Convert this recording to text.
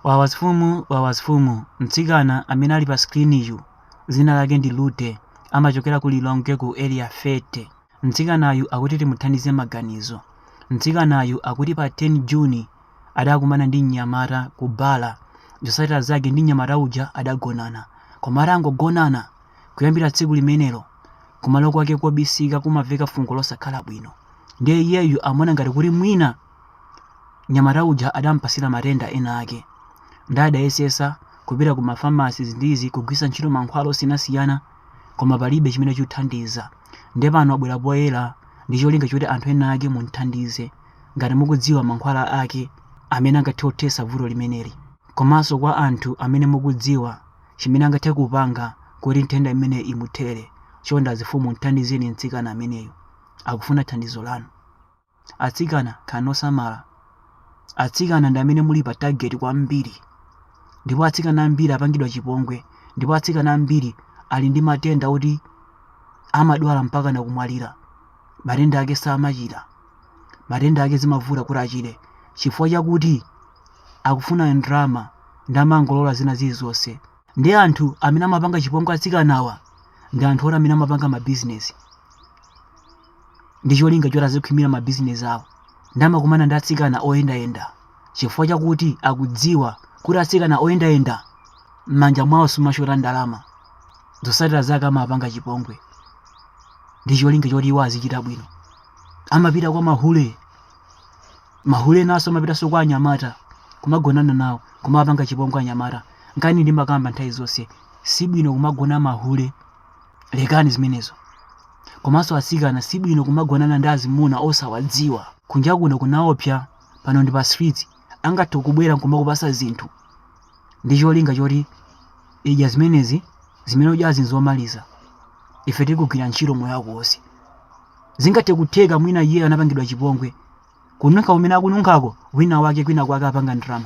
Wawa azifumu wawa azifumu mtsikana amene ali pa screen yu dzina lake ndi Lute amachokera ku Lilongwe ku area 30 mtsikanayu akuti timuthandize maganizo mtsikanayu akuti pa 10 June adakumana ndi mnyamata ku bala zotsatira zake ndi mnyamata uja adagonana koma atangogonana kuyambira tsiku limenelo kumalo kwake kobisika kumamveka fungo losakhala bwino ndiye iyeyu amaona ngati kuti mwina Mnyamata uja adampasira matenda ena ake nde adayesesa kupita ku mafamasi izi ndi izi kugwiritsa ntchito mankhwala osiyanasiyana koma palibe chimene chikuthandiza nde pano abwera poyera ndi cholinga choti anthu ena ake mumthandize ngati mukudziwa mankhwala ake amene angathe kuthesa vuto limeneli komanso kwa anthu amene mukudziwa chimene angathe kupanga kuti nthenda imeneyi imuthere chonde azifumu mthandizeni mtsikana ameneyu akufuna thandizo lanu. Atsikana, khalani osamala. Atsikana ndi amene muli pa target kwambiri. Ndipo atsikana ambiri apangidwa chipongwe. Ndipo atsikana ambiri ali ndi matenda oti amadwala mpaka nakumwalira. Matenda ake samachira. Matenda ake zimavuta kuti achire. Chifukwa chakuti akufuna ndalama nde amangolola zina zilizonse. Ndi anthu amene amapanga chipongwe atsikanawa ndi anthu oti amene amapanga mabizinesi. ndi cholinga choti azikhwimira mabizinesi awo nde amakumana ndi atsikana oyendayenda chifukwa chakuti akudziwa kuti atsikana oyendayenda m'manja mwawo simushota ndalama zotsatira zake amapanga chipongwe ndi cholinga choti iwo azichita bwino amapita kwa mahule mahule naso amapitanso kwa anyamata kumagonana nawo kumapanga chipongwe anyamata nkani ndimakamba nthawi zonse si bwino kumagona mahule lekani zimenezo komanso asikana si bwino kumagonana ndi azimuna osawadziwa kunja kuno kunaopsa pano ndi pa streets angathe kubwera nkumakupasa zinthu ndi cholinga choti idya zimenezi zimene udyazi nzomaliza ife tikugwiritsa ntchito moyo wako wonse zingathe kutheka mwina iyeyo anapangidwa chipongwe kununkha kumene akununkhako wina wake kwina kwake apanga ndalama